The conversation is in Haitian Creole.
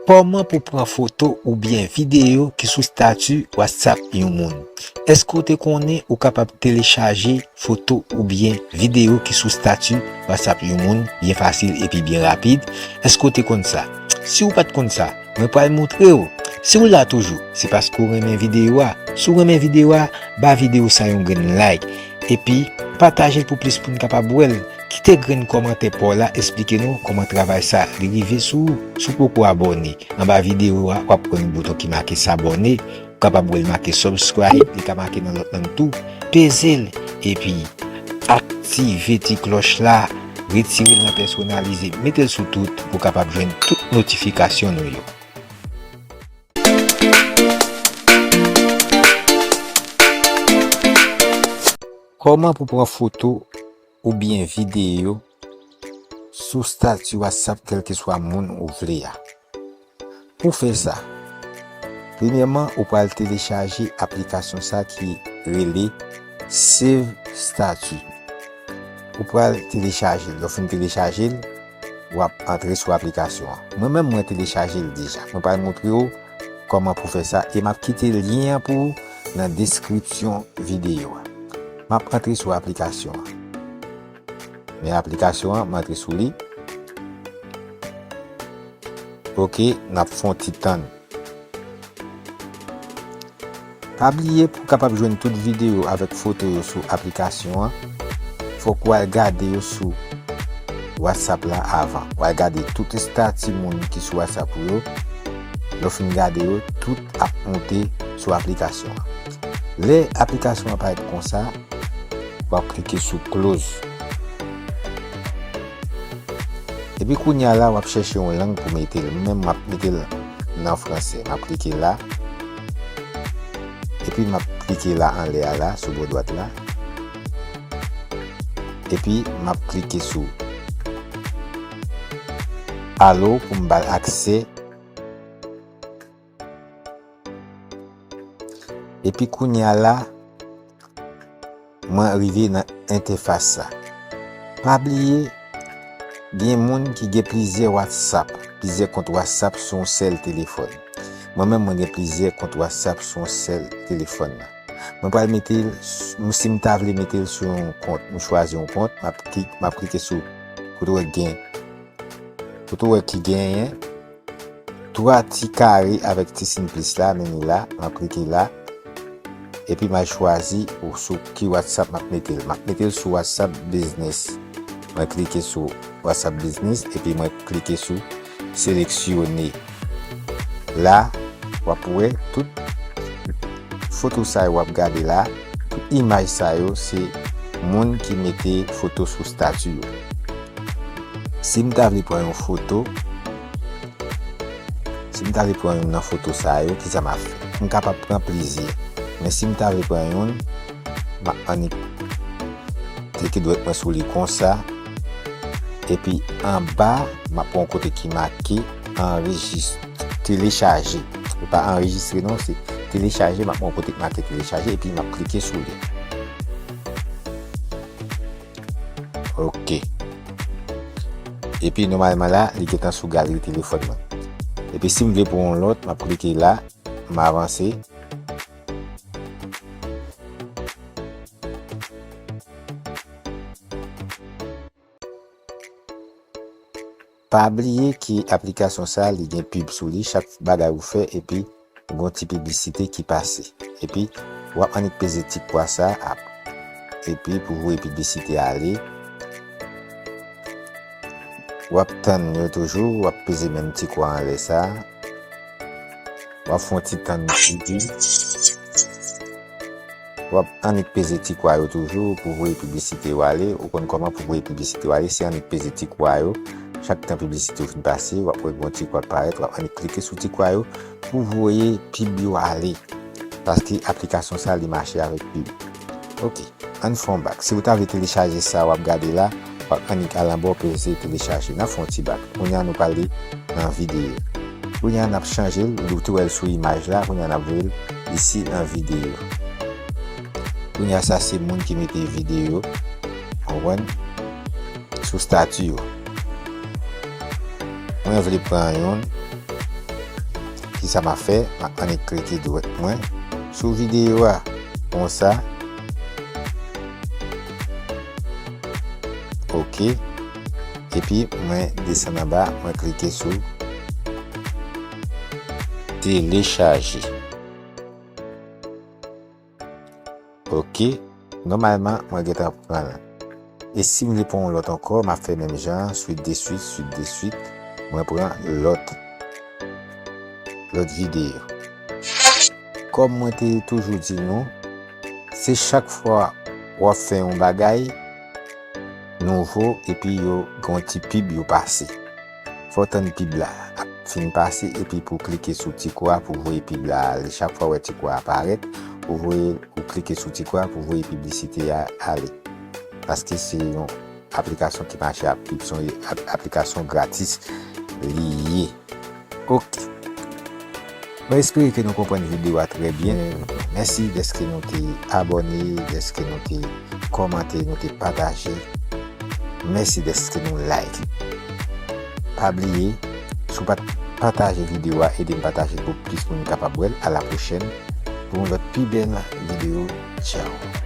Kòman pou pran foto oubyen videyo ki sou stati WhatsApp yon moun. Eske ou te konnen ou kapab telechaje foto oubyen videyo ki sou stati WhatsApp yon moun byen fasil epi byen rapid? Eske ou te konn sa? Si ou pat konn sa, Mwen pral moutre w. Si w la toujou, se paske w renmen videyo a. Si w renmen videyo a, ba videyo sa yon grenn like. Epi, pataje l pou plis moun kapab wè l. Kite grenn kòmantè pa w la esplike nou kòman travay sa li rive sou ou. Si w poko abòne, anba videyo a w ap wè yon bouton ki make sabòne. Ou kapab wè l make subscribe, li ka make nan lòt lang tou. Peze l epi aktive ti klòch la, retire l nan pèsonalize, mete l sou tout pou w kapab jwenn tout notifikasyon nou yo. Kòman pou pran foto. oubyen videyo sou stati WhatsApp kèlkeswa moun ou vle a. Pou w fè sa, premyèman ou pral telechaje aplikasyon sa ki rele Save Status. Ou pral telechaje l, lè w fin telechaje l, wap antre sou aplikasyon an mwen menm mwen telechajel deja mwen pral moutrew kòman pou fè sa e map kite lyen an pou ou nan deskripsyon videyo a map antre sou aplikasyon an men aplikasyon an m antre sou li ok nap fon ti tann. Pa bliye pou kapab jwenn tout videyo avèk foto yo sou aplikasyon an fòk ou al gade yo sou WhatsApp la avan. Ou al gade tout estati moun ki sou WhatsApp ou yo, lè ou fin gade yo tout ap monte sou aplikasyon an. Lè aplikasyon an parèt konsa, wap klike sou close. Epi kounya la wap chèche yon lang pou mete l menm map mete l nan fransè map klike la epi map klike la anlè a la sou bò dwat la epi map klike sou alo pou m bal aksè. Epi kounya la mwen rive nan entefas sa. Pa bliye gen moun ki gen plizyè whatsapp, plizyè kont whatsapp sou yon sèl telefòn. Mwen menm mwen gen plizyè kont whatsapp sou yon sèl telefòn nan. Mwen pral mete, si m ta vle mete l sou yon kont, m chwazi yon kont, m ap klike sou kote w wè gen, kote w wè ki genyen. 3 ti kare avèk ti sin plis la mimi la map klike la epi mal chwazi ou sou ki whatsapp map metel map metel sou whatsapp biznis mwen klike sou whatsapp biznis epi mwen klike sou seleksyone la wap wè tout foto sa yo wap gade la. Tout imaj sa yo se moun ki mete foto sou stati yo. Si m ta vle pran yon foto, si m ta vle pran youn nan foto sa yo, kisa m ap fè? M kapab pran plizyè, men si m ta vle pran youn, m ap annik klike dwèt mwen sou li konsa. Epi anba map wè yon kote ki make anrejistre, telechaje. Li pa anrejistre non se telechaje map wè yon kote ki make telechaje epi map klike sou li. Ok. Epi nomalman la li gentan sou galri telefòn mwen. Epi sim vle pou yon lòt map klike la, m avanse. Pa bliye ke aplikasyon sa li gen pub sou li chak bagay ou fè epi gon ti piblisite ki pase epi wap annik peze ti kwa sa ap epi pou voye piblisite ale wap tann yo toujou wap peze menm ti kwa anlè sa. Wap fon ti tann bgy. Wap annik peze ti kwa yo toujou pou voye piblisite yo ale. Ou konn koman pou voye piblisite yo ale se annik peze ti kwa yo. Chak tan piblisite yo fin pase wap wè gon ti kwa k parèt wap annik klike sou ti kwa yo pou voye pib yo ale. Paske aplikasyon sa li mache avèk pub. Ok ann fè yon bak si ou ta vle telechaje sa wap gade la wap annik al anba ou peze telechaje nap fè yon ti bak kounya nou pral li nan videyo kounya nap chanjel ou te wèl sou imaj la kounya nap voyel isi nan videyo kounya sa se moun ki mete videyo konprann sou stati yo mwen vle pran yon. Kisa ma fè ma annik klike dwèt mwen sou video a konsa ok epi mwen desann anba mwen klike sou telechaje. Ok Nòmalman mwen gentan pranl e sim li pou yon lòt ankò map fè menm jan an swit de swit swit de swit mwen pran lòt lòt videyo kòm mwen te toujou di nou se chak fwa wap fè yon bagay nouvo epi yo gen yon ti pib yo pase. Fè w tann pib la ap fin pase epi pou w klike sou ti kwa pou w voye pib la ale. Chak fwa w wè ti kwa a parèt, ou voye ou klike sou ti kwa pou w voye piblisite a ale. Paske se yon aplikasyon ki mache ak pib, se yon aplikasyon gratis li ye. Ok. Mwen espere ke nou konprann video a trè byen. Mèsi dèske nou te abòne, dèske nou te kòmante, nou te pataje. Mèsi dèske nou like. Pa bliye, si w pa t pataje video a, ede m pataje l pou plis moun kapab wè l. A la pwochèn pou yon lòt pi bèl video. Tchao!